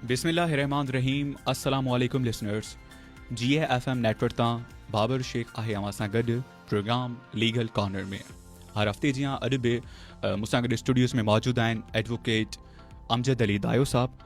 بسم الله الرحمن الرحيم السلام عليڪم لسنرز جي ايف ايم نيٽ ورڪ تان بابر شيخ آهي اوهان سان گڏ پروگرام ليگل کانر ۾ هر هفتي جيان اڄ به مون سان گڏ اسٽوڊيوز ۾ موجود آهن ايڊووڪيٽ امجد علي دايو صاحب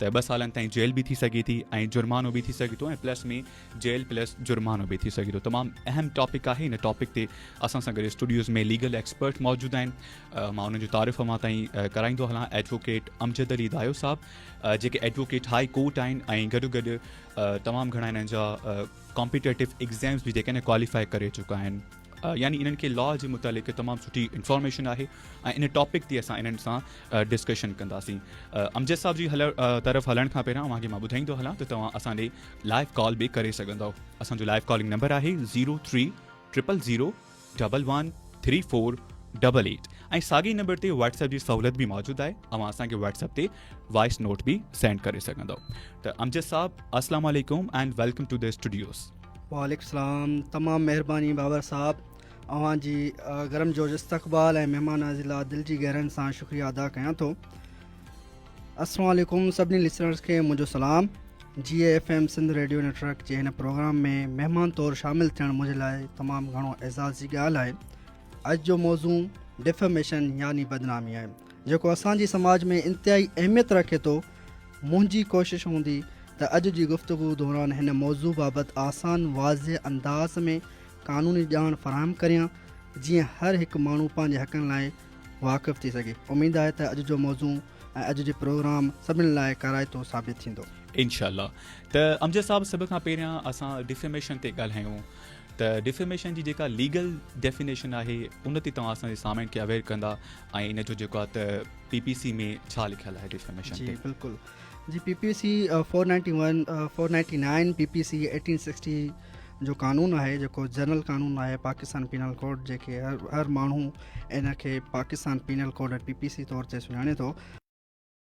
ته ٻه سالن تائين جيل به ٿي سگهي ٿي ۽ جرمانو به ٿي سگهي ٿو ۽ پلس ۾ جيل پلس جرمانو به ٿي سگهي ٿو تمام اهم ٽاپڪ آهي ان ٽاپڪ تي اسان سان گڏ اسٽوڊيوز ۾ ليگل ايڪسپرٽ موجود آهن مان انهن جو تعارف اوهان تائين ڪرائيندو هلان ايڊووڪيٽ امجد علي دايو صاحب جيڪي ايڊووڪيٽ هاء ڪورٽ آهن ۽ گڏو گڏ تمام گهڻا هنن جا ڪامپيٽيٽو ايگزامز به جيڪي نه ڪواليفائي ڪري چڪا آهن يعني انهن کي لا جي متعلق تمام سٺي انفارميشن آهي ۽ ان ٽاپڪ تي اسان انهن سان ڊسڪشن ڪنداسين امجد صاحب جي هل طرف هلڻ کان پهريان اوهان کي مان ٻڌائيندو هلان ته توهان اسان ڏي لائيو ڪال به ڪري سگهندو اسان جو لائيو ڪالنگ نمبر آهي zero three triple zero double one three four double eight ۽ ساڳي نمبر تي واتس ايپ جي سہولت به موجود آهي اوهان اسان کي واتس ايپ تي وائس نوٽ به سينڊ ڪري سگهندو ته امجد صاحب السلام علیکم and welcome to the studios وعليڪم سلام تمام مهرباني بابر صاحب اوهان جي گرم جوش استقبال ۽ مهمان نوازي لاء دل جي گهرن سان شڪريا ادا ڪيان ٿو السلام عليڪم سڀني لسنرز کي منهنجو سلام جي اي F M Sindh radio network جي هن پروگرام ۾ مهمان طور شامل ٿيڻ منهنجي لاء تمام گهڻو اعزاز جي ڳالهه آهي اڄ جو موضوع ڊفميشن يعني بدنامي آهي جيڪو اسان جي سماج ۾ انتهائي اهميت رکي ٿو منهنجي ڪوشش هوندي ته اڄ جي گفتگو دوران هن موضوع بابت آسان واضح انداز ۾ قانوني ڄاڻ فراهم ڪريان جيئن هر هڪ ماڻهو پنهنجي حقن لاء واقف ٿي سگهي. اميد آهي ته اڄ جو موضوع ۽ اڄ جي پروگرام سڀني لاء ڪارائتو ثابت ٿيندو. انشاء الله ته امجد صاحب سڀ کان پهريان اسان ڊيفيميشن تي ڳالهايون ته ڊيفيميشن جي جيڪا ليگل ڊيفينيشن آهي ان تي توهان اسان جي سامعين کي اويئر ڪندا. ۽ ان جو جيڪو آهي ته پي پي سي ۾ ڇا لکيل آهي ڊيفاميشن تي جي بلڪل جي P P C 491 499 P P C 1860 جو قانون آهي جيڪو جنرل قانون آهي پاڪستان پينل ڪوڊ جيڪي هر هر ماڻهو ان کي Pakistan penal code P P C طور تي سڃاڻي ٿو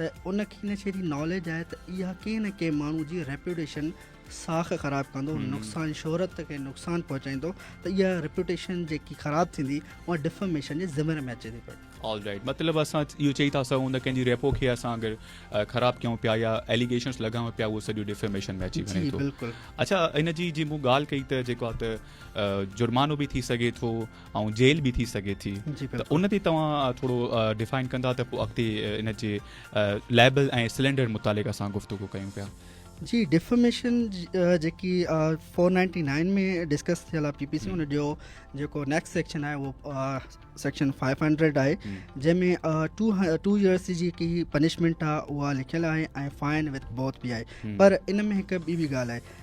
ته ان کي نه شيء جي ناليج آهي ته اها ڪنهن نه ڪنهن ماڻهو جي ريپيوٽيشن ساک خراب ڪندو نقصان شهرت کي نقصان پهچائيندو ته اها ريپيوٽيشن جيڪي خراب ٿيندي اها ڊفاميشن جي ذمير ۾ اچي ٿي پئي آل رائيٽ مطلب اسان اهو چئي ٿا سگهون ته ڪنهن جي ريپو کي اسان اگر خراب ڪيون پيا يا ايليگيشنس لڳائون پيا اهو سڄو ڊيفيميشن ۾ اچي وڃي ٿو اچا ان جي جي مون ڳالهه ڪئي ته جيڪو ته جرمانو به ٿي سگهي ٿو ۽ جيل به ٿي سگهي ٿي ته ان تي توهان ٿورو ڊفائن ڪندا ته پوء اڳتي ان جي ليبل ۽ سلينڊر متعلق اسان گفتگو ڪيون پيا جي ڊيفاميشن جيڪي فور نائنٽي نائن ۾ ڊسڪس ٿيل آ پي پي سي ان جو جيڪو نيڪسٽ سيڪشن آهي اهو سيڪشن فائيو هنڊريڊ آهي جنهن میں ٽو ٽو ايئرس جي جيڪي پنشمنٹ آ اها لکيل آهي ۽ فائن وٿ بوت به آهي پر ان ۾ هڪ ٻي به ڳالهه آهي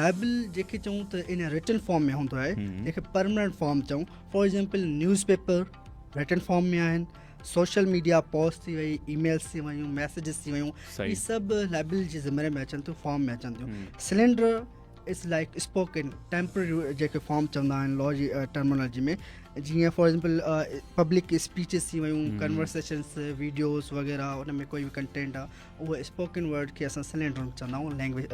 لائبل جيڪي چئون ته ان رٽن فارم ۾ هوندو آهي جيڪي پرمننٽ فارم چئون for example newspaper written form ۾ آهن سوشل ميڊيا پوسٽ ٿي وئي اي ميلس ٿي ويون ميسيجز ٿي ويون هي سڀ لائبل جي ذمري ۾ اچن ٿيون فارم ۾ اچن ٿيون slander is like spoken temporary جيڪي فارم چوندا آهن لا جي ٽرمنالوجي ۾ جيئن فار ايگزامپل پبلڪ اسپيچز ٿي ويون ڪنورسيشنس ويڊيوز وغيرہ ان ۾ کوئی بي ڪنٽينٽ آهي اهو اسپوڪن ورڊ کي اسان سلينڊرم چوندا آهيون لينگويج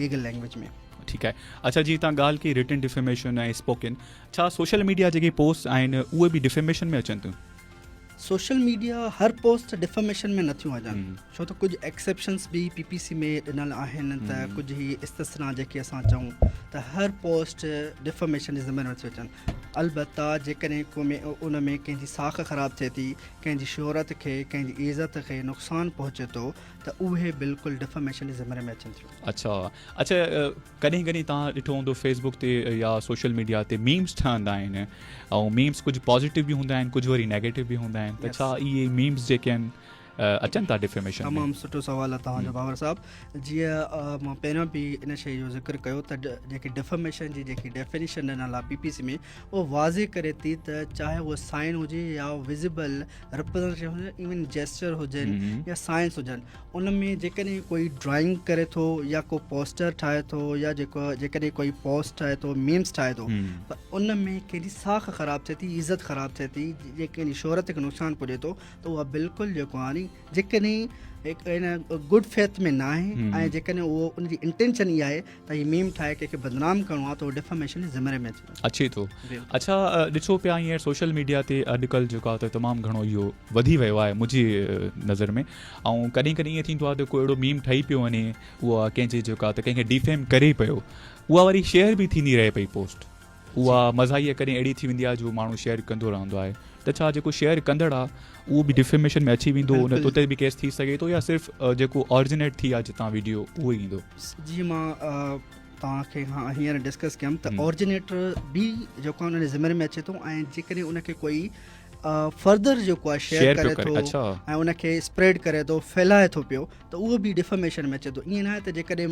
ليگل لينگويج ۾ ٺيڪ آهي اچھا جي تان ڳالھ ڪي رٽن ڊيفيميشن ۽ اسپوڪن ڇا سوشل ميڊيا جيڪي پوسٽ آهن اهي به ڊيفيميشن ۾ اچن ٿيون سوشل ميڊيا هر پوسٽ ڊيفيميشن ۾ نٿيون اچن ڇو ته ڪجھ ايڪسيپشنس به پي پي سي ۾ ڏنل آهن ته ڪجھ هي استثنا جيڪي اسان چئون ته هر پوسٽ ڊيفيميشن جي ذمي نٿيون اچن البته جيڪڏهن ڪو ۾ ان ۾ ڪنهن جي ساک خراب ٿئي ٿي ڪنهن جي شهرت کي، ڪنهن جي عزت کي نقصان پهچي ٿو ته اهي بلڪل ڊفاميشن جي زمري ۾ اچن ٿيون. اڇا اڇا ڪڏهن ڪڏهن توهان ڏٺو هوندو فيس بڪ تي يا سوشل ميڊيا تي ميمز ٺهندا آهن ۽ ميمز ڪجهه پازيٽو به هوندا آهن ڪجهه وري نيگيٽو به هوندا آهن ته ڇا اهي ميمز جيڪي آهن اچن ٿا ڊيفيميشن ۾ تمام سٺو سوال آهي توهان جو باور صاحب جيئن مان پهريان به ان شيء جو ذڪر ڪيو ته جيڪي ڊيفيميشن جي جيڪي ڊيفينيشن ڏنل آهي پي پي سي ۾ اهو واضح ڪري ٿي ته چاهي اهو سائن هجي يا وزيبل ريپرزنٽيشن هجي ايون جيسچر هجن يا سائنس هجن ان ۾ جيڪڏهن ڪوئي ڊرائنگ ڪري ٿو يا ڪو پوسٽر ٺاهي ٿو يا جيڪو جيڪڏهن ڪوئي پوسٽ ٺاهي ٿو ميمس ٺاهي ٿو پر ان ۾ ڪنهن جي ساک خراب ٿئي ٿي عزت خراب ٿئي ٿي جيڪي شهرت کي نقصان پهچي ٿو ته اها بلڪل جيڪو آني جيڪڏهن ان گڊ فيٿ ۾ نه آهي ۽ جيڪڏهن اهو ان جي انٽينشن اها آهي ته هي ميم ٺاهي ڪنهن کي بدنام ڪرڻو آهي ته اهو ڊيفاميشن جي ذمري ۾ اچي ٿو اڇا ڏسو پيا هينئر سوشل ميڊيا تي اڄڪلهه جيڪو آهي تمام گهڻو اهو وڌي ويو آهي منهنجي نظر ۾ ۽ ڪڏهن ڪڏهن ائين ٿيندو آهي ته ڪو اهڙو ميم ٺهي پيو وڃي اها ڪنهن جي جيڪو آهي ته ڪنهن کي ڊيفيم ڪري پيو اها واري شيئر به ٿيندي رهي پئي پوسٽ اها مزاحيه ڪڏهن اهڙي ٿي ويندي آهي جو ماڻهو شيئر ڪندو رهندو آهي ته ڇا جيڪو شيئر ڪندڙ آهي اهو به ڊفيميشن ۾ اچي ويندو ان اتي به ڪيس ٿي سگهي ٿو يا صرف جيڪو آرجنيٽ ٿي آهي جتان ويڊيو اهو ئي ايندو جي مان توهان کي هان هينئر ڊسڪس ڪيم ته آرجنيٽر به جيڪو ان جي ذميواري ۾ اچي ٿو ۽ جيڪڏهن ان کي ڪوئي فردر جيڪو آهي شيئر ڪري ٿو ۽ ان کي اسپريڊ ڪري ٿو ڦيلائي ٿو پيو ته اهو به ڊفرميشن ۾ اچي ٿو ائين ناهي ته جيڪڏهن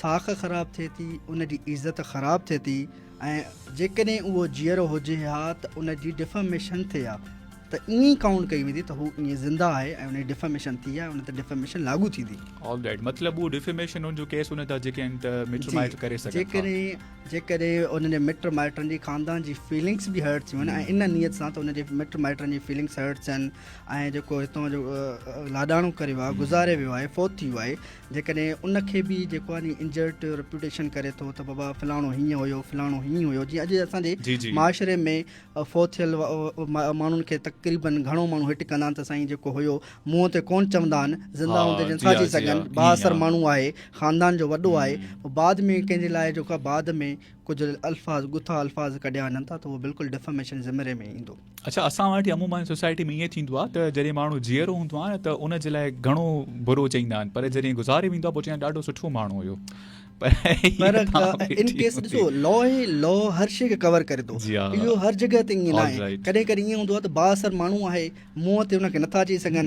ساک خراب ٿئي ٿي، ان جي عزت خراب ٿئي ٿي ۽ جيڪڏهن اهو جيئرو هجي ها ته ان جي ڊيفاميشن ٿئي ها ته ائين ئي ڪائونٽ ڪئي ويندي ته هو ائين زنده آهي ۽ ان جي ڊيفاميشن ٿي آهي ان تي ڊيفاميشن لاڳو ٿيندي. آل رائيٽ مطلب اهو ڊيفاميشن ان جو ڪيس هوندا ته جيڪي آهن ته مٽ مائٽ ڪري سگهن ٿا. جيڪڏهن جيڪڏهن انهن جي مٽ مائٽن جي خاندان جي فيلنگس به هرٽ ٿيون ۽ ان نيت سان ته ان جي مٽ مائٽن جي فيلنگس هرٽ ٿين ۽ جيڪو هتان جو لاڏاڻو ڪري ويو آهي گذاري ويو آهي فوت ٿي ويو آهي جيڪڏهن ان کي به جيڪو آهي ني انجرٽ رپيوٽيشن ڪري ٿو ته بابا فلاڻو هيئن هيو فلاڻو هيئن هيو جيئن اڄ اسان جي معاشري ۾ فوت ٿيل ماڻهن کي تقريبن گهڻو ماڻهو هٽ ڪندا آهن ته سائين جيڪو هيو منهن تي ڪون چوندا آهن زنده هوندي جن ٿا چئي سگهن با اثر ماڻهو آهي خاندان جو وڏو آهي بعد ۾ ڪنهن جي لاء جيڪو بعد ۾ ڪجهه الفاظ ڳٿا الفاظ ڪڍيا وڃن ٿا ته اهو بلڪل ڊفاميشن زمري ۾ ايندو اڇا اسان وٽ عموماً سوسائٽي ۾ ائين ٿيندو آهي ته جڏهن ماڻهو جيئرو هوندو آهي نه ته ان جي لاء گهڻو برو چئيندا آهن پر جڏهن گذاري ويندو آهي پوء چئندا ڏاڍو سٺو ماڻهو هيو ان ڪيس ڏسو لا هي لا هر شيء کي ڪور ڪري ٿو جي آه اهو هر جڳهه تي ائين نه آهي ڪڏهن ڪڏهن ائين هوندو آهي ته بااثر ماڻهو آهي منهن تي ان کي نٿا چئي سگهن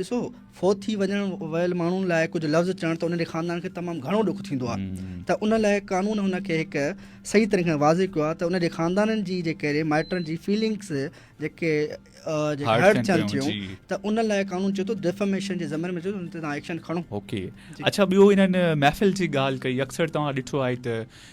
ڏسو فوت ٿي وڃڻ ويل ماڻهن لاء ڪجهه لفظ چوڻ ته ان جي خاندان کي تمام گهڻو ڏک ٿيندو آهي ته ان لاء قانون هن کي هڪ صحيح طريقي کان واضح ڪيو آهي ته ان جي خاندانن جي جي ڪهڙي مائٽن جي فيلنگس جيڪي هرٽ ٿين ٿيون ته ان لاء قانون چيو ٿو ڊيفاميشن جي زمن ۾ چيو ان تي تان ايڪشن کڻو اوڪي اڇا ٻيو انهن محفل جي ڳالهه ڪئي اڪثر توهان ڏٺو آهي ته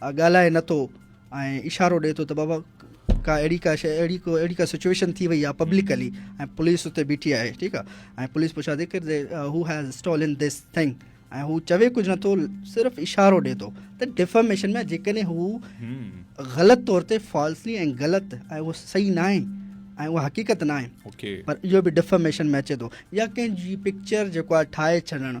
آ ڳالهائي نه ٿو ۽ اشارو ڏي ٿو ته بابا ڪا اهڙي ڪا شيء اهڙي ڪو اهڙي ڪا سچويشن ٿي وئي آ پبلڪلي ۽ پوليس اتي بيٺي آهي ٺيڪ آ ۽ پوليس پڇا ٿي ڪر who has stolen this thing ۽ هو چوي ڪجهه نه ٿو صرف اشارو ڏي ٿو ته ڊفاميشن ۾ جيڪڏهن هو غلط طور تي فالسلي ۽ غلط ۽ اهو صحيح ناهي ۽ اها حقيقت ناهي پر اهو به ڊفاميشن ۾ اچي ٿو يا ڪنهن جي پڪچر جيڪو آهي ٺاهي ڇڏڻ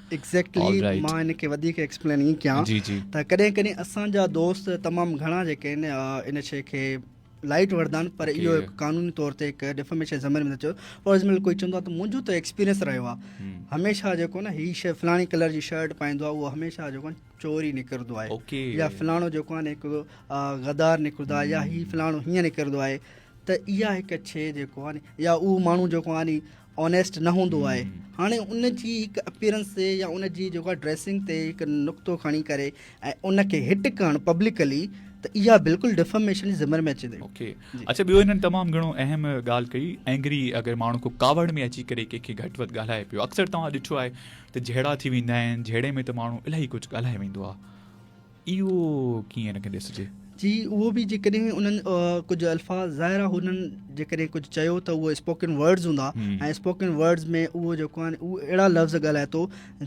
ايگزيڪٽلي مان ان کي وڌيڪ ايڪسپلين ائين ڪيان ته ڪڏهن ڪڏهن اسان جا دوست تمام گهڻا جيڪي آهن ان شيء کي لائٽ وردا آهن پر اهو هڪ قانوني طور تي هڪ ڊفاميشن زمين ۾ چيو فار ايگزامپل ڪوئي چوندو آهي ته منهنجو ته ايڪسپيرينس رهيو آهي هميشه جيڪو نه هي شي فلاڻي ڪلر جي شرٽ پائيندو آهي اهو هميشه جيڪو چوري نڪرندو آهي يا فلاڻو جيڪو آهي هڪ غدار نڪرندو آهي يا هي فلاڻو هيئن نڪرندو آهي ته اها هڪ شي جيڪو آهي يا اهو ماڻهو جيڪو آهي آنيسٽ نه هوندو آهي هاڻي ان جي هڪ اپيرنس تي يا ان جي جيڪو آهي ڊريسنگ تي هڪ نقطو کڻي ڪري ۽ ان کي هٽ ڪرڻ پبلڪلي ته اها بلڪل ڊفاميشن جي ذمر ۾ اچي ٿي اوڪي جي. اچھا ٻيو هنن تمام گھڻو اهم ڳالهه ڪئي اينگري اگر ماڻهو ڪو ڪاوڙ ۾ اچي ڪري ڪنهن کي گھٽ وڌ ڳالهائي پيو اڪثر توهان ڏٺو آهي ته جھيڙا ٿي ويندا آهن جھيڙي ۾ ته ماڻهو الاهي ڪجھه ڳالهائي ويندو آهي اهو ڪيئن هن کي ڏسجي؟ جي اهو به جيڪڏهن انهن ڪجهه الفاظ ظاهر آهي هنن جيڪڏهن ڪجهه چيو ته اهو اسپوڪن ورڊز هوندا ۽ اسپوڪن ورڊز ۾ اهو جيڪو آهن اهو اهڙا لفظ ڳالهائي ٿو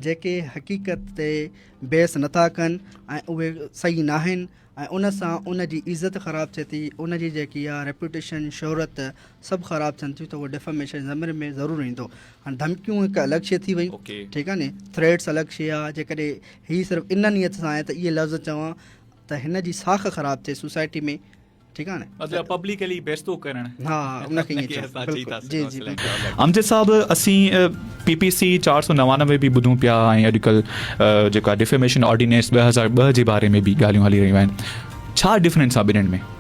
جيڪي حقيقت تي بحث نٿا ڪن ۽ اهي صحيح نه آهن ۽ ان سان ان جي عزت خراب ٿئي ٿي ان جي جيڪي آهي ريپوٽيشن شهرت سڀ خراب ٿين ٿيون ته اهو ڊيفاميشن ضمير ۾ ضرور ايندو هاڻي ڌمڪيون هڪ الڳ شي ٿي ويون ٺيڪ آهي ني ٿريٽس الڳ شي آهي جيڪڏهن هي صرف ان نيت سان آهي ته اهي لفظ چوان ته هن جي ساک خراب ٿئي سوسائٽي ۾ ٺيڪ آهي مطلب پبلڪلي بيستو ڪرڻ ها ان کي ائين چئبو جي جي امجد صاحب اسين پي پي سي چار سو نوانوي به ٻڌون پيا ۽ اڄڪلهه جيڪا ڊيفيميشن آرڊيننس ٻه هزار ٻه جي باري ۾ به ڳالهيون هلي رهيون آهن ڇا ڊفرنس آهي ٻنهن ۾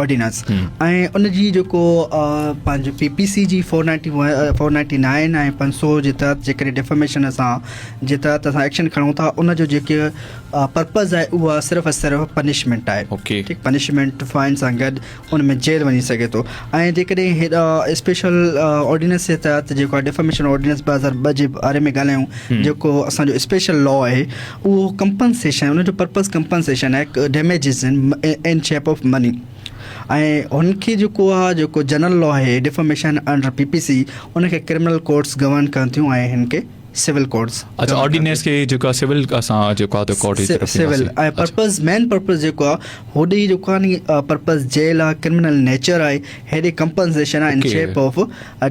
آرڊيننس ۽ ان جي جيڪو پنهنجو پي پي سي جي four ninety one four ninety nine ۽ پنج سو جي تحت جيڪڏهن ڊيفاميشن اسان جي تحت اسان ايڪشن کڻون ٿا ان جو جيڪي پرپز آهي اها صرف ۽ صرف پنشمنٽ آهي اوڪي ٺيڪ پنشمنٽ فائن سان گڏ ان ۾ جيل وڃي سگهي ٿو ۽ جيڪڏهن هيڏا اسپيشل آرڊيننس جي تحت جيڪو ڊيفاميشن آرڊيننس ٻه هزار ٻه جي باري ۾ ڳالهايون جيڪو اسانجو اسپيشل لا آهي اهو ڪمپنسيشن ان جو پرپز ڪمپنسيشن آهي damages in shape of money ۽ هن کي جيڪو آهي جيڪو جنرل لا آهي defamation under P P C ان کي ڪرمنل ڪورٽس گورن ڪن ٿيون ۽ هن کي سول ڪورٽس اڇا آرڊيننس کي جيڪو آهي سول اسان جيڪو آهي ڪورٽ جي طرف سول ۽ پرپز مين پرپز جيڪو آهي هوڏي جيڪو آهي پرپز جيل آهي ڪرمنل نيچر آهي هيڏي ڪمپنسيشن آهي in shape of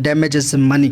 damages money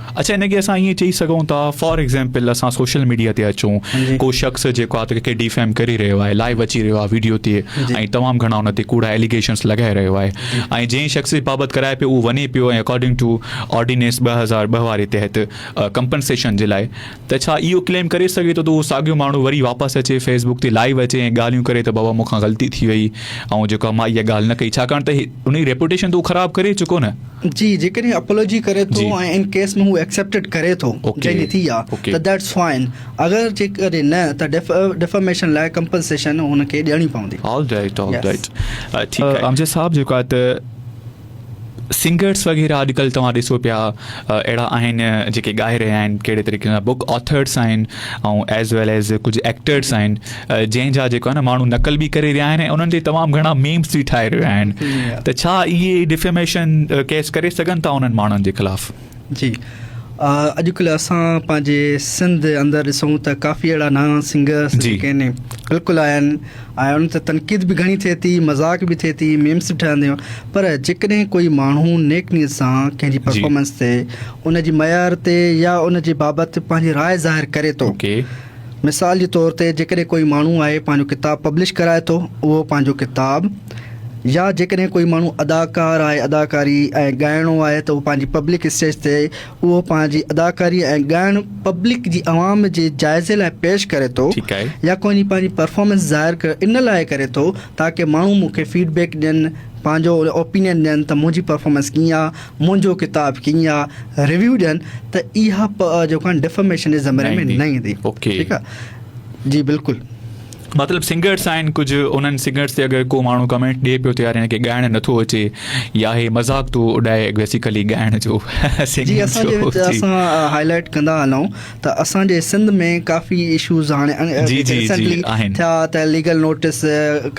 اڇا هن کي اسان ائين چئي سگهون ٿا فار ايگزامپل اسان سوشل ميڊيا تي اچون ڪو شخص جيڪو آ ته کي ڊيفيم ڪري رهيو آهي لائيو اچي رهيو آهي ويڊيو تي ۽ تمام گهڻا ان تي ڪوڙا اليگيشنس لڳائي رهيو آهي ۽ جنهن شخص جي بابت ڪرائي پيو اهو وڃي پيو ۽ اڪارڊنگ ٽو آرڊينيس ٻه هزار ٻه واري تحت ڪمپنسيشن جي لاء ته ڇا اهو ڪليم ڪري سگهي ٿو ته اهو ساڳيو ماڻهو وري واپس اچي فيس بڪ تي لائيو اچي ۽ ڳالهيون ڪري ته بابا مون کان غلطي ٿي وئي آئون جيڪو آهي مان اها ڳالهه نه ڪئي ڇاڪاڻ ته انهي ريپوٽيشن ته هو خراب ڪري چڪو نه. جي جيڪڏهن اپولوجي ڪري ٿو ۽ ان ڪيس ۾ هو ايڪسيپٽيڊ ڪري ٿو جنهن جي ٿي آهي ته ڌيٽس فائن اگر جيڪڏهن نه ته ڊيفاميشن لاء ڪمپنسيشن هن کي ڏيڻي پوندي. آل رائيٽ آل رائيٽ ٺيڪ آهي امجد صاحب جيڪو آهي ته. سنگرس وغيره اڄ ڪلهه توهان ڏسو پيا اهڙا آهن جيڪي ڳائي رهيا آهن ڪهڙي طريقي سان بوڪ آٿرس آهن ۽ ايز ويل ايز ڪجهه ايڪٽرس آهن جنهن جا جيڪو آهن ماڻهو نقل به ڪري رهيا آهن ۽ انهن تي تمام گهڻا ميمس به ٺاهي رهيا آهن ته ڇا اهي ڊفيميشن ڪيس ڪري سگهن ٿا انهن ماڻهن جي خلاف جي اڄڪلهه اسان پنهنجي سنڌ اندر ڏسون ته ڪافي اهڙا نانا سنگرس جي جي ڪين بلڪل آيا آهن ۽ انهن تي تنقيد به گهڻي ٿئي ٿي مذاق به ٿئي ٿي ميمس به ٺهندا آهن پر جيڪڏهن ڪوئي ماڻهو نيڪ نيت سان ڪنهن جي جي پرفارمنس تي ان جي معيار تي يا ان جي بابت پنهنجي راء ظاهر ڪري ٿو اوڪي مثال جي طور تي جيڪڏهن ڪوئي ماڻهو آهي پنهنجو ڪتاب پبلش ڪرائي ٿو اهو پنهنجو ڪتاب يا جيڪڏهن ڪوئي ماڻهو اداڪار آهي اداڪاري ۽ ڳائڻو آهي ته اهو پنهنجي پبلڪ اسٽيج تي اهو پنهنجي اداڪاري ۽ ڳائڻ پبلڪ جي عوام جي جائزي لاء پيش ڪري ٿو يا ڪوئي پنهنجي پرفارمنس ظاهر ان لاء ڪري ٿو تاڪه ماڻهو مون کي فيڊ بيڪ ڏين پنهنجو اوپينين ڏين ته منهنجي پرفارمنس ڪيئن آهي منهنجو ڪتاب ڪيئن آهي ريويو ڏين ته اها جيڪا ڊفاميشن جي زمري ۾ نه ايندي ٺيڪ آهي جي بلڪل مطلب سنگرس آهن ڪجهه انهن سنگرس تي اگر ڪو ماڻهو ڪمينٽ ڏي پيو ته يار هن کي ڳائڻ نه ٿو اچي يا هي مذاق ٿو اڏائي بيسيڪلي ڳائڻ جو جي اسان جي وچ اسان هاء لائٽ ڪندا هلون ته اسان جي سنڌ ۾ ڪافي اشوز هاڻي جي جي جي آهن ٿيا ته ليگل نوٽس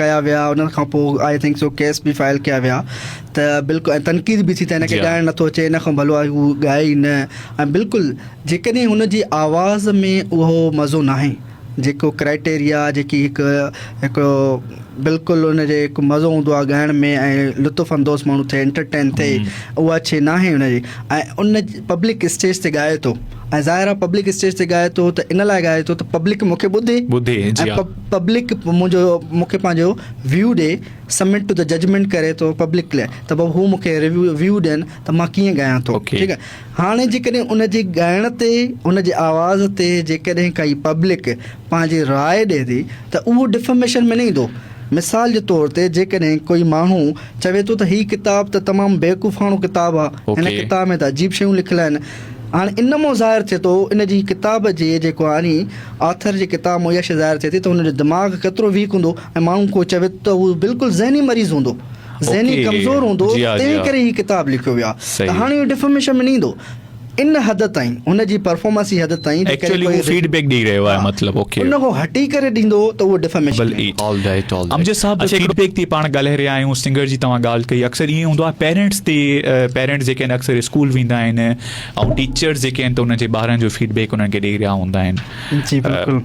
ڪيا ويا انهن کان پوء آء ٿنڪ سو ڪيس به فائل ڪيا ويا ته بلڪل تنقيد به ٿي ته هن کي ڳائڻ نه ٿو اچي هن کان ڀلو آهي هو ڳائي نه ۽ بلڪل جيڪڏهن هن جي آواز ۾ اهو مزو ناهي جيڪو ڪرائيٽيريا جيڪي هڪ هڪڙو بلڪل ان جي هڪ مزو هوندو آهي ڳائڻ ۾ ۽ لطف اندوز ماڻهو ٿئي انٽرٽين ٿئي اها شي ناهي ان جي ۽ ان پبلڪ اسٽيج تي ڳائي ٿو ۽ ظاهر آهي پبلڪ اسٽيج تي ڳائي ٿو ته ان لاء ڳائي ٿو ته پبلڪ مونکي ٻڌي ٻڌي جي ۽ پبلڪ منهنجو مونکي پنهنجو ويو ڏي سمٽ ته ججمنٽ ڪري ٿو پبلڪ لاء ته بابا هو مونکي ريويو ويو ڏين ته مان ڪيئن ڳايان ٿو ٺيڪ آهي هاڻي جيڪڏهن ان جي ڳائڻ تي، ان جي آواز تي جيڪڏهن ڪائي پبلڪ پنهنجي راء ڏئي ٿي ته اهو ڊفاميشن ۾ نه ايندو. مثال جي طور تي جيڪڏهن ڪوئي ماڻهو چوي ٿو ته هي ڪتاب ته تمام بيوقوفاڻو ڪتاب آ، هن ڪتاب ۾ ته عجيب شيون لکيل آهن. هاڻي ان مون ظاهر ٿئي ٿو ان جي ڪتاب جي جيڪو آني آٿر جي ڪتاب مون اها شيء ظاهر ٿئي ٿي ته ان جو دماغ ڪيترو ويڪ هوندو ۽ ماڻهو ڪو چوي ته هو بلڪل ذهني مريض هوندو. ذهني ڪمزور هوندو تنهن ڪري هي ڪتاب لکيو ويو آهي ته هاڻي اهو ڊفاميشن ۾ نه ايندو ان حد تائين هن جي پرفارمنس جي حد تائين جي ڪري ڪوئي فيڊ بيڪ ڏئي رهيو آهي مطلب اوڪي ان کان هٽي ڪري ڏيندو ته اهو ڊفاميشن نه ايندو آلرائيٽ آلرائيٽ امجد صاحب فيڊ بيڪ تي پاڻ ڳالهائي رهيا آهيون سنگر جي توهان ڳالهه ڪئي اڪثر ائين هوندو آهي پيرنٽس تي پيرنٽس جيڪي آهن اڪثر اسڪول ويندا آهن ۽ ٽيچرس جيڪي آهن ته انهن جي ٻارن جو فيڊ بيڪ انهن کي ڏئي رهيا هوندا آهن جي بلڪل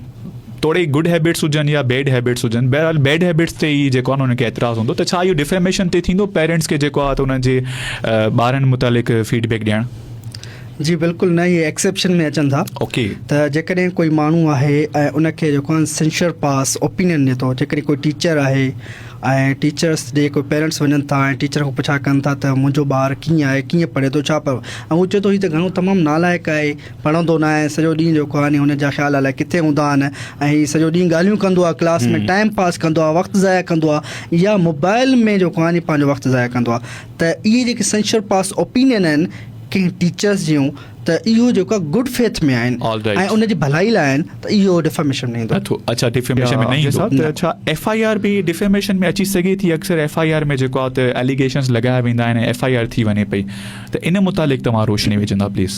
توڙي گڊ هيبٽس هجن يا بيڊ هيبٽس هجن بهرحال بيڊ هيبٽس تي ئي جيڪو انهن کي اعتراض هوندو ته ڇا اهو ڊيفيميشن تي ٿيندو پيرنٽس کي جيڪو آهي ته انهن جي ٻارن متعلق فيڊ بيڪ ڏيڻ جي بلڪل نه اهي ايڪسيپشن ۾ اچن ٿا اوڪي ته جيڪڏهن ڪوئي ماڻهو آهي ۽ ان کي جيڪو آهي سينشر پاس اوپينين ڏي ٿو جيڪڏهن ڪوئي ٽيچر آهي ۽ ٽيچرس ڏي ڪوئي پيرنٽس وڃن ٿا ۽ ٽيچر کان پڇا ڪن ٿا ته منهنجو ٻار ڪيئن آهي ڪيئن پڙهي ٿو ڇا پيو ۽ هو چئي ٿو هي ته گهڻو تمام نالائق آهي پڙهندو نه آهي سڄو ڏينهن جو ڪهاڻي هن جا خيال الائي ڪٿي هوندا آهن ۽ هي سڄو ڏينهن ڳالهيون ڪندو آهي ڪلاس ۾ ٽائيم پاس ڪندو آهي وقت ضايع ڪندو آهي يا موبائل ۾ جو ڪهاڻي پنهنجو وقت ضايع ڪندو آهي ته اهي جيڪي سينشر پاس اوپينين آهن ڪنهن ٽيچرس جون ته اهو جيڪو آهي گڊ فيٿ ۾ آهن ۽ ان جي ڀلائي لاء آهن ته اهو ڊيفاميشن ۾ ايندو نٿو اڇا ڊيفاميشن ۾ نه ايندو ته ڇا ايف آء آر به ڊيفاميشن ۾ اچي سگهي ٿي اڪثر ايف آء آر ۾ جيڪو آهي ته اليگيشنز لڳايا ويندا آهن ايف آء آر ٿي وڃي پئي ته ان متعلق توهان روشني وجهندا پليز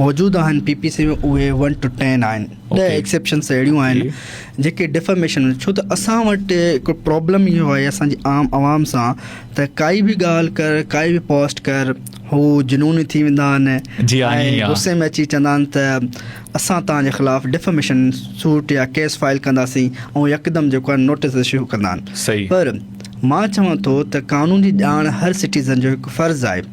موجود آهن پي پي سي ۾ اهي ون ٽو ٽين آهن ڏهه ايڪسيپشنس اهڙيون آهن جيڪي ڊفاميشن ڇو ته اسان وٽ هڪ پرابلم اهو آهي اسان جي عام عوام سان ته ڪائي بي ڳالهه ڪر ڪائي بي پوسٽ ڪر هو جنوني ٿي ويندا آهن ۽ غصي ۾ اچي چوندا آهن ته اسان توهان جي خلاف ڊفاميشن سوٽ يا ڪيس فائل ڪنداسين ۽ يڪدم جيڪو آهن نوٽيس اشو ڪندا آهن پر مان چوان ٿو ته قانون جي ڄاڻ هر سٽيزن جو هڪ فرض آهي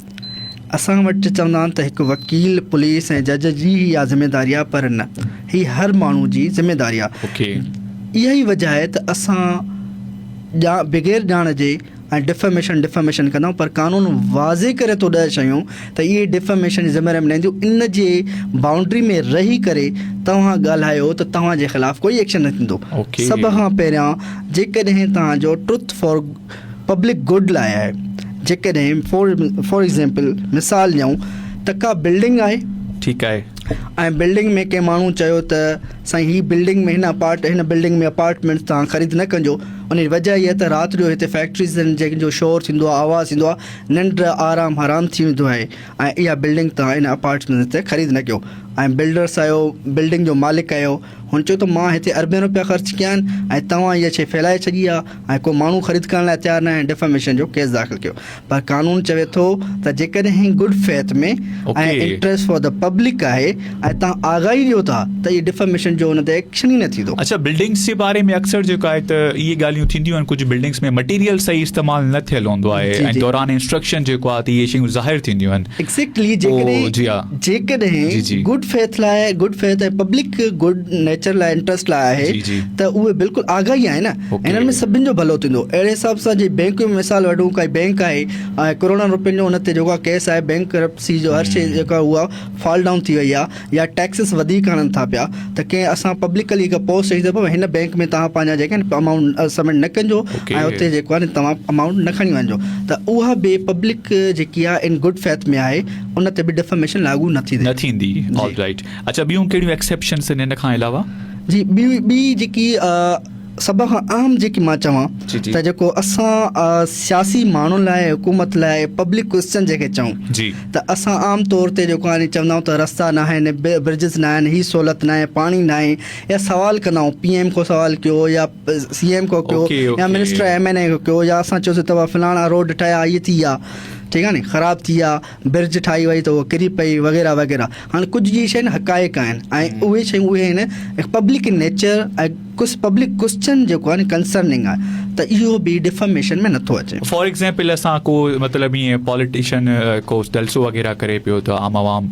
اسان وٽ چوندا آهن ته هڪ وڪيل، پوليس ۽ جج جي ئي اها ذميواري آهي پر نه هي هر ماڻهو جي ذميواري آهي. اها ئي وجهه آهي ته اسان ڄا بغير ڄاڻ جي ۽ ڊفيميشن ڊفيميشن ڪندا آهيون پر قانون واضح ڪري ٿو ڏهه شيون ته اهي ڊفيميشن جي ذميواري نه اينديون ان جي بائونڊري ۾ رهي ڪري توهان ڳالهايو ته توهان جي خلاف ڪوئي ايڪشن نه ٿيندو سڀ کان پهريان جيڪڏهن توهان جو ٽروٿ فار پبلڪ گڊ لاء آهي جيڪڏهن فار ايگزامپل مثال ڏيون ته ڪا بلڊنگ آهي ٺيڪ آهي ۽ بلڊنگ ۾ ڪنهن ماڻهو چيو ته سائين هي بلڊنگ ۾ هن اپارٽ هن بلڊنگ ۾ اپارٽمنٽ تان خريد نه ڪجو ان وجه هي ته رات جو هتي فيڪٽريز آهن جنهن جو شور ٿيندو آهي آواز ٿيندو آهي ننڊ آرام حرام ٿي ويندو آهي ۽ اها بلڊنگ تان ان اپارٽمنٽ تي خريد نه ڪيو ۽ بلڊرس آهيو بلڊنگ جو مالڪ آهيو هن چيو ته مان هتي اربين رپيا خرچ ڪيا آهن ۽ توهان اها شيء ڦهلائي ڇڏي آهي ۽ ڪو ماڻهو خريد ڪرڻ لاء تيار ناهي ڊفيميشن جو ڪيس داخل ڪيو پر قانون چوي ٿو ته جيڪڏهن good faith ۾ ۽ interest for the public آهي ۽ توهان آگاهي ڏيو ٿا ته اهي ڊفيميشن جو ان تي ايڪشن ئي نه ٿيندو اڇا بلڊنگس جي باري ۾ اڪثر جيڪو آهي ته اهي ڳالهيون ٿينديون آهن ڪجهه بلڊنگس ۾ مٽيريل صحيح استعمال نه ٿيل هوندو آهي ۽ دوران انسٽرڪشن جيڪو آهي ته اهي شيون ظاهر ٿينديون آهن ايڪزيڪٽلي جيڪڏهن جيڪڏهن گڊ فيٿ لاء good faith ۽ public good nature لاء انٽرسٽ لاء آهي ته اهي بلڪل آگاهه ئي آهن انهن ۾ سڀني جو ڀلو ٿيندو اهڙي حساب سان جي بينڪ جو مثال وٺون ڪا بينڪ آهي ۽ ڪروڙن روپين جو ان تي جيڪو ڪيس آهي بينڪ ڪرپسي جو هر شيء جيڪا هو فال ڊائون ٿي وئي آهي يا ٽيڪسز وڌيڪ هڻن ٿا پيا ته ڪنهن اسان پبلڪلي هڪ پوسٽ ڏئي ته هن بينڪ ۾ توهان پنهنجا جيڪا آهن امائونٽ سبمٽ نه ڪجو ۽ اتي جيڪو آهي توهان امائونٽ نه کڻي وڃجو ته اها به پبلڪ جيڪي آهي ان گڊ فيٿ ۾ آهي ان تي به ڊفاميشن لاڳو نه ٿيندي. نه ٿيندي آل رائيٽ اڇا ٻيون ڪهڙيون ايڪسيپشنس آهن ان کان علاوه. جي ٻي ٻي جيڪي سڀ کان اهم جيڪي مان چوان ته جيڪو اسان سياسي ماڻهن لاء حڪومت لاء پبلڪ ڪويسچن جيڪي چئون ته اسان عام طور تي جيڪو آهي چوندا آهيون ته رستا نه آهن برجز نه آهن هي سهولت ناهي پاڻي ناهي يا سوال ڪندا آهيون پي ايم کان سوال ڪيو يا سي ايم کان ڪيو يا منسٽر ايم اين اي کان ڪيو يا اسان چيوسي ته فلاڻا روڊ ٺهيا هي ٿي ويا ٺيڪ آهي ني خراب ٿي آ برج ٺاهي وئي ته هو ڪري پئي وغيره وغيره هاڻي ڪجهه جي شين حقائق آهن ۽ اهي شيون اهي آهن پبلڪ ان نيچر ۽ ڪس پبلڪ ڪسچن جيڪو آهي ڪنسرننگ آهي ته اهو به ڊفاميشن ۾ نٿو اچي فار ايگزامپل اسان ڪو مطلب ايئن پاليٽيشن ڪو جلسو وغيره ڪري پيو ته عام عوام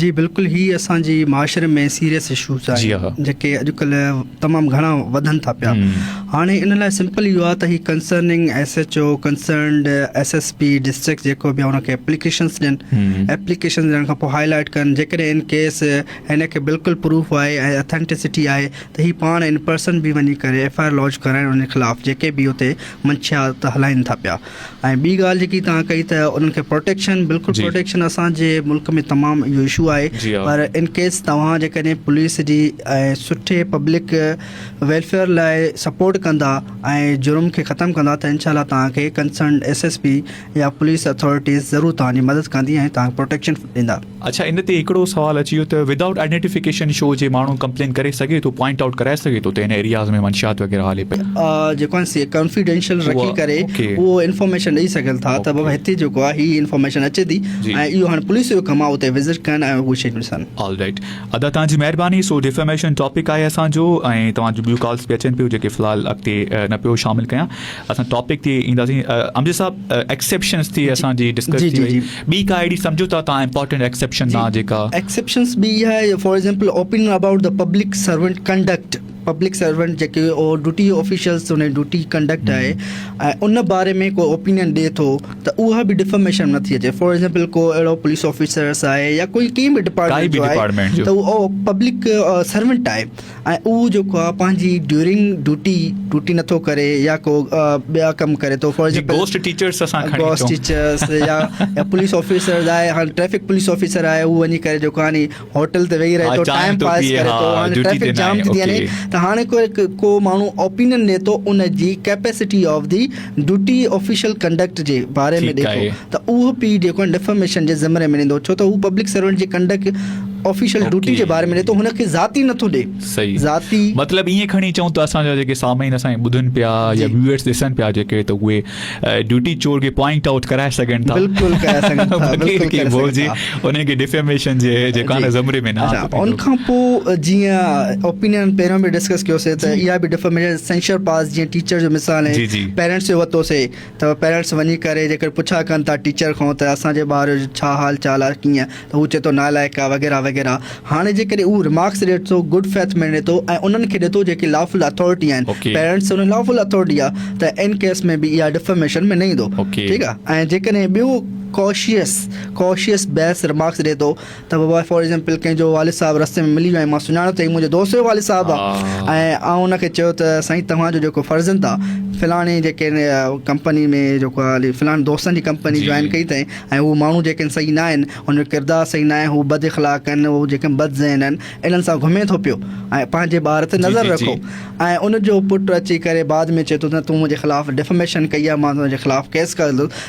جي بلڪل هي اسان جي معاشري ۾ سيريس اشوز آهن جيڪي اڄڪلهه تمام گهڻا وڌن ٿا پيا هاڻي ان لاء سمپل اهو آهي ته هي concerning S H O concerned S S P district جيڪو به ان کي اپليڪيشنس ڏين اپليڪيشن ڏيڻ کان پوء هاء لائٽ ڪن جيڪڏهن ان ڪيس هن کي بلڪل پروف آهي ۽ اٿينٽسٽي آهي ته هي پاڻ ان پرسن به وڃي ڪري ايف آء آر لانچ ڪرائين ان خلاف جيڪي به اتي منشيات هلائين ٿا پيا ۽ ٻي ڳالهه جيڪي توهان ڪئي ته انهن کي پروٽيڪشن بلڪل پروٽيڪشن اسان جي ملڪ ۾ تمام اهو اشو آهي پر ان ڪيس توهان جيڪڏهن پوليس جي ۽ سٺي پبلڪ ويلفيئر لاء سپورٽ ڪندا ۽ جرم کي ختم ڪندا ته انشاء الله توهان کي ڪنسرنڊ ايس ايس پي يا پوليس اٿارٽيز ضرور توهان جي مدد ڪندي ۽ توهان کي پروٽيڪشن ڏيندا اڇا ان تي هڪڙو سوال اچي ويو ته ودائوٽ آئيڊينٽيفڪيشن شو جي ماڻهو ڪمپلين ڪري سگهي ٿو پوائنٽ آئوٽ ڪرائي سگهي ٿو ته هن ايرياز ۾ منشيات وغيره هلي پئي جيڪو آهن سي ڪانفيڊينشل رکي ڪري اهو انفارميشن ڏئي سگهن ٿا ته بابا هتي جيڪو آهي هي انفارميشن اچي ٿي ۽ اهو هاڻي پوليس جو ڪم آهي اتي وزٽ ڪن ۽ اهي شيون ڏسن آل رائٽ ادا توهان جي مهرباني سو ڊيفيميشن ٽاپڪ آهي اسان جو ۽ توهان جون ٻيون ڪالس به اچن پيون جيڪي في الحال اڳتي نه پيو شامل ڪيان اسان ٽاپڪ تي اينداسين امجد صاحب ايڪسيپشنز تي اسان جي ڊسڪس ٿي وئي ٻي ڪا اهڙي سمجهو ٿا توهان امپارٽنٽ ايڪسيپشن مان جيڪا. ايڪسيپشنس ٻي اها آهي for example opinion about the public servant conduct public servant جيڪي ڊيوٽي آفيشلس ان جي ڊيوٽي ڪنڊڪٽ آهي ۽ ان باري ۾ ڪو اوپينين ڏي ٿو ته اها به ڊفاميشن ۾ نٿي اچي فار ايگزامپل ڪو اهڙو پوليس آفيسرس آهي يا ڪوئي ڪنهن به ڊپارٽمينٽ جو آهي ته اهو پبلڪ سرونٽ آهي ۽ اهو جيڪو آ پنهنجي ڊيورنگ ڊوٽي ڊوٽي نٿو ڪري يا ڪو ٻيا ڪم ڪري ٿو فار ايگزامپل گوسٽ ٽيچرز اسان کڻي گوسٽ ٽيچرز يا پوليس آفيسرز آهي هاڻ ٽريفڪ پوليس آفيسر آهي هو وڃي ڪري جيڪو هاڻي هوٽل تي ويهي رهي ٿو ٽائيم پاس ڪري ٿو هاڻي ٽريفڪ جام ٿي ٿي وڃي ته هاڻي ڪو ماڻهو اوپينن ڏي ٿو ان جي capacity of the duty official conduct جي باري ۾ ڏي ٿو ته اهو پي جيڪو آهي ڊفاميشن جي زمري ۾ ايندو ڇو ته هو پبلڪ سرونٽ جي ڪنڊڪٽ آفيشل ڊوٽي جي باري ۾ ڏي ٿو هن کي ذاتي نه ٿو ڏي صحيح ذاتي مطلب ائين کڻي چئون ته اسان جا جيڪي سامعين اسان کي ٻڌن پيا يا ويورس ڏسن پيا جيڪي ته اهي ڊوٽي چور کي پوائنٽ آئوٽ ڪرائي سگهن ٿا بلڪل ڪرائي سگهن ٿا بلڪل ڪرائي سگهن ٿا انهن کي ڊيفيميشن جي جيڪانه زمري ۾ نه آندو ان کان پو جيئن اوپينين پهريون به ڊسڪس ڪيو سي ته اها به ڊيفيميشن سينشر پاس جيئن ٽيچر جو مثال آهي پيرنٽس جو وتو سي ته پيرنٽس وڃي ڪري جيڪر پڇا ڪن ٿا ٽيچر کان ته اسان جي ٻار جو ڇا حال چال آهي ڪيئن ته هو چي ٿو نالائق آهي وغيره وغيره هاڻي جي ڪري هو رمارڪس ڏي ٿو گڊ فيٿ ۾ ڏي ٿو ۽ انهن کي ڏي ٿو جيڪي لا فل اٿارٽي آهن پيرنٽس ان لا فل اٿارٽي آهي ته ان ڪيس ۾ به اها ڊيفيميشن ۾ نه ايندو ٺيڪ آهي ۽ جيڪڏهن ٻيو ڪاشيس ڪوشيس بيس رمارڪس ڏئي ٿو ته بابا فار ايگزامپل ڪنهن جو والد صاحب رستي ۾ ملي ويو ۽ مان سڃاڻان ته هي منهنجو دوست جو والد صاحب آهي ۽ آئون ان کي چيو ته سائين توهان جو جيڪو فرزند آهي فلاڻي جيڪي ڪمپني ۾ جيڪو هلي فلاڻي دوستن جي ڪمپني جوائن ڪئي اٿائين ۽ هو ماڻهو جيڪي آهن صحيح ناهن هن جو ڪردار صحيح ناهي هو بد اخلاق آهن هو جيڪي بد ذهن آهن انهن سان گهمي ٿو پيو ۽ پنهنجي ٻار تي نظر رکو ۽ ان جو پٽ اچي ڪري بعد ۾ چئي ٿو ته تون منهنجي خلاف ڊفميشن ڪئي آهي مان تنهنجي خلاف ڪيس ڪندس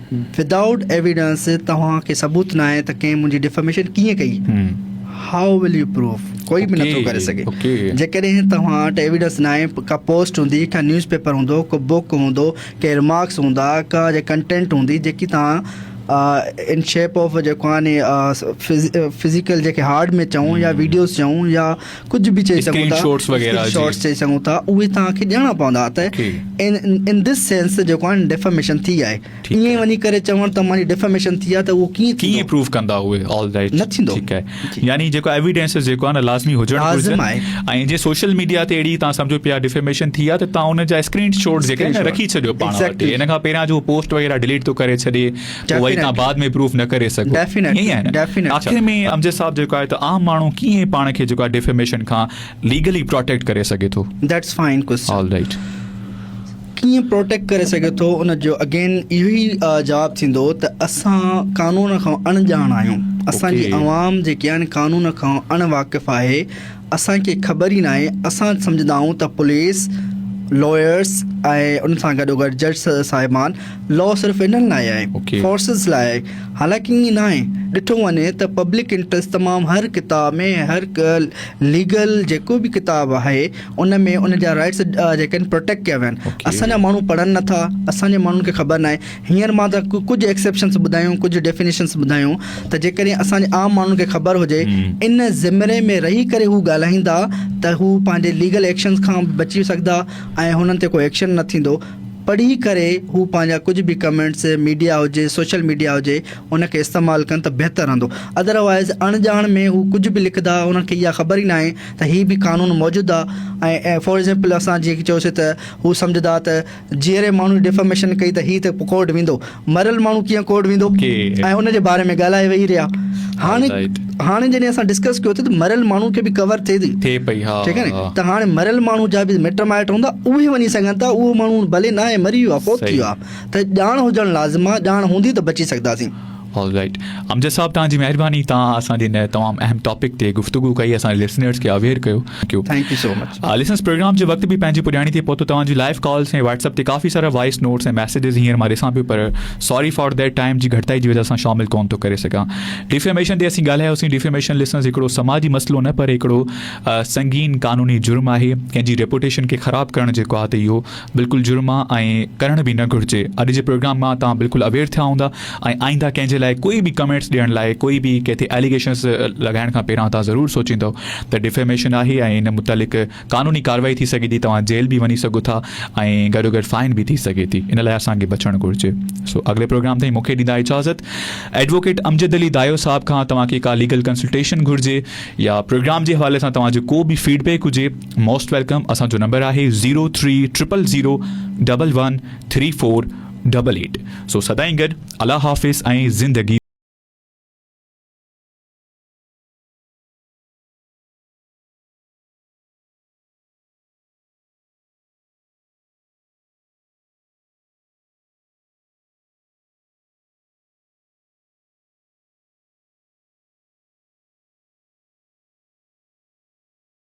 Without evidence توهان کي ثبوت ناهي ته ڪنهن منهنجي ڊيفاميشن ڪيئن ڪئي How will you prove ڪوئي به نٿو ڪري سگهي جيڪڏهن توهان وٽ ايويڊنس ناهي ڪا پوسٽ هوندي ڪا نيوز پيپر هوندو ڪو بوڪ هوندو ڪي رمارڪس هوندا ڪا جي ڪنٽينٽ هوندي جيڪي توهان ان شيپ آف جيڪو آهي ني فزيڪل جيڪي هارڊ مي چئون يا ويڊيوز چئون يا ڪجهه به چئي سگهون ٿا اسڪرين شاٽس چئي سگهون ٿا اهي توهان کي ڏيڻا پوندا ته ان دس سينس جيڪو آهي ڊيفاميشن ٿي آهي ائين وڃي ڪري چوڻ ته ماني ڊيفاميشن ٿي آهي ته اهو ڪيئن ڪيئن پروف ڪندا اهي آل رائٽ نه ٿيندو ٺيڪ آهي يعني جيڪو ايويڊنس جيڪو آهي نه لازمي هجڻ گهرجي ۽ جي سوشل ميڊيا تي اهڙي تان سمجهو پيا ڊيفاميشن ٿي آهي ته توهان ان جا اسڪرين شاٽس جيڪي رکي ڇڏيو پاڻ وٽ ان کان پهريان جو پوسٽ وغيره ڊيليٽ ٿو ڪري ڇڏي پوء وري تهان بعد ۾ پروف نه ڪري سگهو ائين آهي نه آخر ۾ امجد صاحب جيڪو آهي ته عام ماڻهو ڪيئن پاڻ کي جيڪو آهي ڊيفيميشن کان ليگلي پروٽيڪٽ ڪري سگهي ٿو that's fine question all right ڪيئن پروٽيڪٽ ڪري سگهي ٿو ان جو اگين اهو ئي جواب ٿيندو ته اسان قانون کان اڻڄاڻ آهيون اسان جي عوام جيڪي آهن قانون کان اڻ واقف آهي اسان کي خبر ئي ناهي، اسان سمجهندائون ته پوليس، لائرز ۽ ان سان گڏوگڏ جج صاحبان لا صرف انهن لاء آهي، Okay. فورسز لاء آهي، حالانڪه ائين ناهي، ڏٺو وڃي ته پبلڪ انٽريسٽ تمام هر ڪتاب ۾ هر ڪا ليگل جيڪو به ڪتاب آهي ان ۾ ان جا رائٽس جيڪا آهن پروٽيڪٽ ڪيا ويا آهن Okay. اسان جا ماڻهو پڙهن نٿا، اسان جي ماڻهن کي خبر ناهي. هينئر مان ته ڪجهه ايڪسيپشنس ٻڌايون، ڪجهه ڊيفينيشنس ٻڌايون ته جيڪڏهن اسان جي عام ماڻهن کي خبر هجي ان زمري ۾ رهي ڪري هو ڳالهائيندا ته هو پنهنجي ليگل ايڪشنس کان به بچي سگهندا ۽ هنن تي ڪو ايڪشن نه ٿيندو. پڙهي ڪري هو پنهنجا ڪجهه به ڪمينٽس ميڊيا هجي سوشل ميڊيا هجي ان کي استعمال ڪن ته بهتر رهندو اڌروائيز اڻ ڄاڻ ۾ هو ڪجهه به لکندا هنن کي اها خبر ئي ناهي ته هي به قانون موجود آهي ۽ فار ايگزامپل اسان جيڪي چيوسي ته هو سمجهندا ته جيئري ماڻهو ڊيفاميشن ڪئي ته هي ته ڪورٽ ويندو مريل ماڻهو ڪيئن ڪورٽ ويندو ۽ ان جي باري ۾ ڳالهائي ويهي رهيا هاڻي هاڻي جڏهن اسان ڊسڪس ڪيو ٿي ته مريل ماڻهو کي به ڪور ٿئي ٿي ٿئي پئي ها ٺيڪ آهي ته هاڻي مريل ماڻهو جا به مٽ مائٽ هوندا اهي وڃي سگهن ٿا اهو ماڻهو ڀلي ناهي مري ويو آهي فوت ٿي ويو آهي ته ڄاڻ هجڻ لازم آهي ڄاڻ هوندي ته بچي سگهنداسين آل رائيٽ امجد صاحب توهان جي مهرباني توهان اسان جي هن تمام اهم ٽاپڪ تي گفتگو ڪئي اسان جي لسنرز کي اويئر ڪيو ڪيو thank you so much listeners program جي وقت به پنهنجي پڄاڻي تي پهتو توهان جي لائيو ڪالز ۽ واٽس اپ تي ڪافي سارا وائس نوٽس ۽ ميسيجز هينئر مان ڏسان پيو پر ساري فار ديٽ ٽائيم جي گهٽتائي جي وجه سان شامل ڪون ٿو ڪري سگهان ڊيفيميشن تي اسين ڳالهايوسين ڊيفيميشن لسنرز هڪڙو سماجي مسئلو نه پر هڪڙو سنگين قانوني جرم آهي ڪنهن جي ريپوٽيشن کي خراب ڪرڻ جيڪو آهي ته اهو بلڪل جرم آ ۽ ڪرڻ به نه گهرجي. اڄ جي پروگرام مان توهان بلڪل اويئر ٿيا هوندا ۽ آئنده ڪنهن جي لاء ڪوئي به ڪمينٽس ڏيڻ لاء ڪوئي به ڪنهن تي اليگيشنس لڳائڻ کان پهريان توهان ضرور سوچيندؤ ته ڊفيميشن آهي ۽ ان متعلق قانوني ڪارروائي ٿي سگهي ٿي توهان جيل به وڃي سگهو ٿا ۽ گڏوگڏ فائن به ٿي سگهي ٿي ان لاء اسان کي بچڻ گهرجي سو اڳلي پروگرام تائين مونکي ڏيندا اجازت ايڊووڪيٽ امجد علي دايو صاحب کان توهان کي ڪا ليگل ڪنسلٽيشن گهرجي يا پروگرام جي حوالي سان توهان جو ڪو به فيڊ بيڪ هجي موسٽ ويلڪم اسان جو نمبر آهي zero three triple zero double one three four double eight سو سدائين گڏ الله حافظ ۽ زندگي